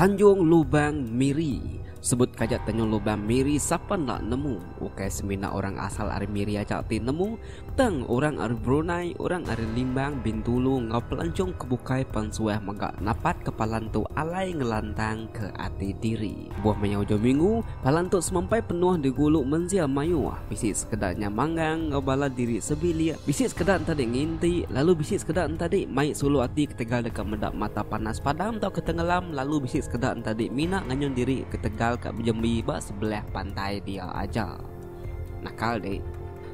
Tanjung Lubang Miri. Sebut kaja Tanjung Lubang Miri sapa enda nemu. Ukai semina orang asal ari Miri aja ti nemu, Tang orang ari Brunei, orang ari Limbang, Bintulu enggau pelancong ke bukai pan suah mega napat ke palan tu alai ngelantang ke ati diri. Buah maya ujau minggu, palan tu semampai penuh digulu mensia mayuh, bisi sekeda nya manggang enggau bala diri sebilik, bisi sekeda ntadi nginti, lalu bisi sekeda ntadi mai sulu ati ketegal deka meda mata panas padam tauka tengelam lalu bisi sekeda ntadi mina nganyun diri ketegal ka bejembi ba sebelah pantai dia aja. Nakal deh.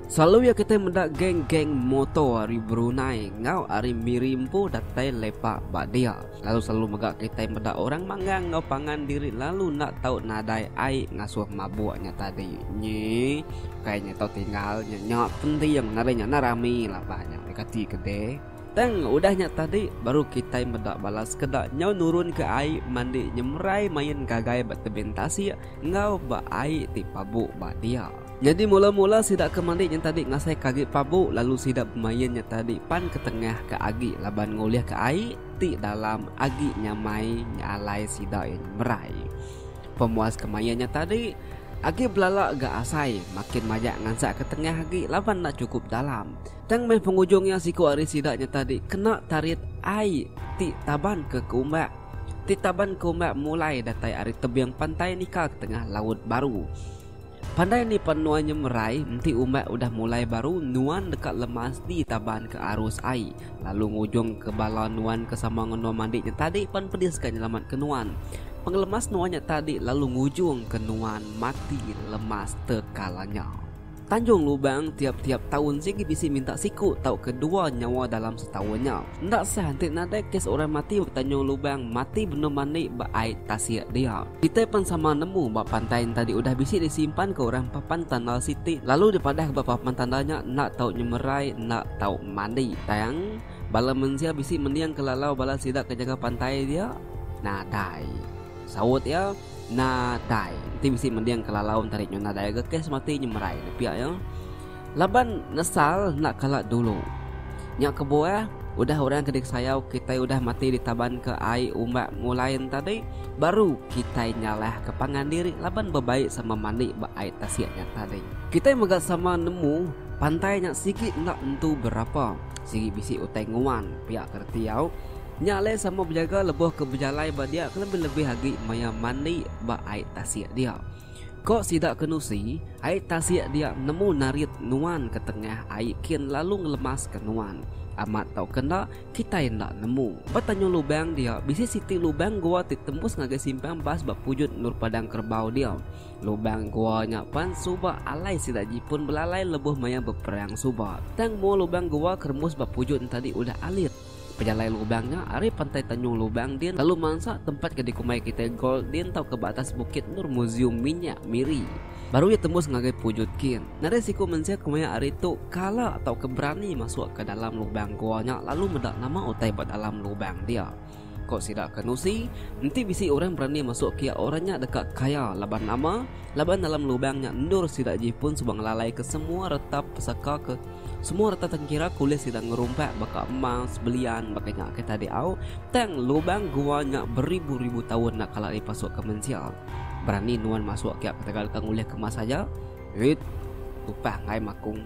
Selalu ya kitai meda geng-geng motor ari Brunei enggau ari Miri empu datai lepak ba dia. Lalu selalu mega kitai meda orang manggang enggau pangan diri lalu enda tau nadai ai ngasuh mabuk nya tadi. Nyi, ukai nya tau tinggal nya nya penting nadai nya enda rami laban nya dikati ke deh. Tang udah nya tadi baru kitai meda bala sekeda nyau nurunka ai mandi nyemerai main gagai ba tebing tasik enggau ba ai ti pabu ba dia. Nyadi mula-mula sida ke mandi nya tadi ngasaika agi pabu lalu sida bemain nya tadi pan ke tengah ka agi laban ngulihka ai ti dalam agi nyamai nya alai sida iya nyemerai. Pemuas ke main nya tadi agi belala ga asai makin majak ngansaka tengah agi laban enda chukup dalam. Tang meh pengujung iya siku ari sida nya tadi kena tarit ai ti taban ke keumbak. Ti taban ke umbak mulai datai ari tebing pantai nika ke tengah laut baru. Pandai ni pan nuan nya merai enti umbak udah mulai baru nuan deka lemas di taban ke arus ai lalu ngujung ke bala nuan ke sama ngenoa mandi nya tadi pan pedis ka nyelamat ke nuan. Pengelemas nuan nya tadi lalu ngujung ke nuan mati lemas tekalanya. Tanjung Lubang tiap-tiap taun sigi bisi minta siku tauka dua nyawa dalam setaun nya. Enda sah enti nadai kes orang mati ba Tanjung Lubang mati benung mandi ba ai tasik dia. Kitai pen sama nemu ba pantai enta diudah bisi disimpanka orang papan tandal siti lalu dipadahka ba papan tandal nya enda tau nyemerai enda tau mandi tang bala mensia bisi mendingka lalau bala sida ke jaga pantai dia nadai saut iya. Na dai, enti bisi mending ke lalau enti ari nyu na dai ga kes mati nyemerai ne pia iya. Laban nesal enda kala dulu. Nya kebuah, udah orang ke diksayau kitai udah mati ditabanka ai umbak mulai entadi, baru kitai nyalahka pangan diri laban bebai sama mandi ba ai tasik nya tadi. Kitai mega sama nemu pantai nya sigi enda entu berapa, sigi bisi utai nguan pia ke reti au. Nya alai sama bejaga lebuh ke bejalai ba dia kelebih-lebih agi maya mandi ba ai tasik dia. Ko sida ke nusi, ai tasik dia nemu narit nuan ke tengah ai kin lalu ngelemaska nuan. Amat tauka enda, kitai enda nemu. Ba tanyung lubang dia bisi siti lubang gua ti tembus ngagai simpang bas ba pujut endur padang kerebau dia. Lubang gua nya pan suba alai sida Jipun belalai lebuh maya beperang suba. Tang mua lubang gua ke rembus ba pujut enti tadi udah alit. Pejalai lubang nya ari Pantai Tanjung Lubang din lalu mansa tempat ke dikumbai kitai Gold din tauka ba atas Bukit Nur Muzium Minyak Miri. Baru iya tembus ngagai Pujut kin. Nadai siku mensia ke maya ari tu kala tauka berani masuk ke dalam lubang gua nya lalu meda nama utai ba dalam lubang dia. Ko sida ke nusi, enti bisi orang berani masuk kiya orang nya deka kaya laban nama laban dalam lubang nya endur sida ji pun suba ngelalaika semua retap pesaka ke Semua reta tengkira kulis sida ngerumpak baka emas, belian, baka nya ke tadi au. Tang lubang gua nya beribu-ribu taun enda kala dipasukka mensia. Berani nuan masuk kiak ketegal ka ngulih kemas aja? Rit, tupah enggai makung.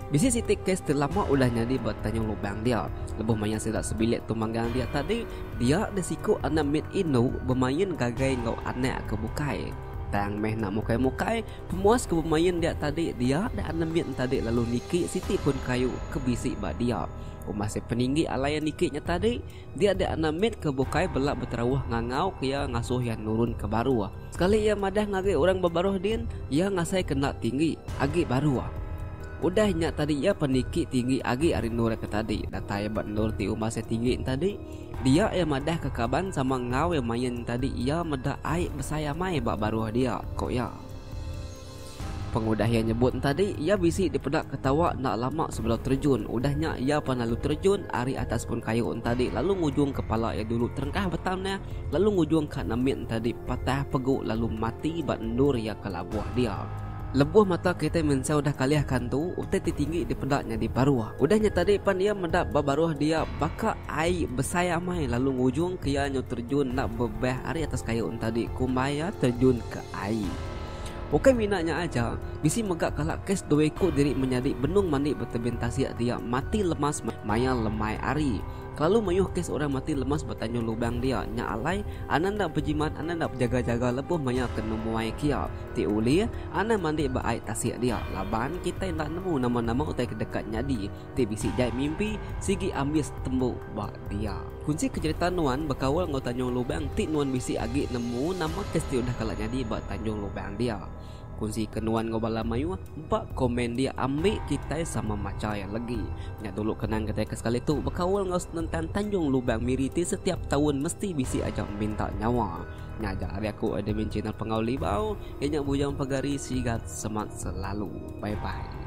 Bisi siti kes ti lama udah nyadi ba tanyung lubang dia. Lebuh maya sida sebilik tu manggang dia tadi, dia disiku anak mit indu bemain gagai enggau anak ke bukai. Tang meh enda mukai-mukai, Pemuas ke bemain dia tadi dia enda nemit entadi lalu niki siti pun kayu ke bisi ba dia. Umbah se peninggi alai iya niki nya tadi, dia enda enda mit ke bukai bela beterauh ngangau ke iya ngasuh iya nurun ke baruh. Sekali iya madah ngagai orang ba baruh din, iya ngasai ke enda tinggi agi baruh. Udah nya tadi iya peniki tinggi agi ari endur iya ke tadi. Datai ba endur ti umbah se tinggi entadi, Dia iya madahka kaban sama enggau iya main tadi iya meda ai besai amai ba baruh dia, ku iya. Pengudah iya nyebut entadi iya bisi dipeda ketawa enda lama sebelum terjun udah nya iya pan lalu terjun ari atas pun kayu entadi lalu ngujungka pala iya dulu terengkah betam neh lalu ngujungka nambit entadi patah pegu lalu mati ba endur iya ke labuh dia. Lebuh mata kitai mensia udah kalih ka entu, utai ti tinggi dipeda nyadi baruh. Udah nya tadi pan iya meda ba baruh dia baka ai besai amai lalu ngujung ke iya nyu terjun enda bebeh ari atas kayu enti tadi kumbai iya terjun ke ai. Ukai mina nya aja, bisi mega kala kes dua iku diri menyadi benung mandi ba tebing tasik dia mati lemas maya lemai hari. Kelalu mayuh kes orang mati lemas ba tanjung lubang dia nya alai, anang enda bejimat, anang enda bejaga-jaga lebuh maya ke nemuai ke iya. ti ulih anang mandi ba ai tasik dia laban kitai enda nemu nama-nama utai ke deka nyadi ti bisi jai mimpi sigi ambis tembu ba dia. Kunsi ke jerita nuan bekaul enggau Tanjung Lubang ti nuan bisi agi nemu nama ke siti udah kala nyadi ba Tanjung Lubang dia. Kunsi ke nuan enggau bala mayuh ba komen dia ambi kitai sama macha iya legi. Nya dulu kenang kitai ke sekali tu bekaul enggau senentang Tanjung Lubang Miri ti setiap taun mesti bisi aja minta nyawa. Ngaga ari aku admin channel pengau libau iya nya bujang pagari sigat semat selalu bye bye.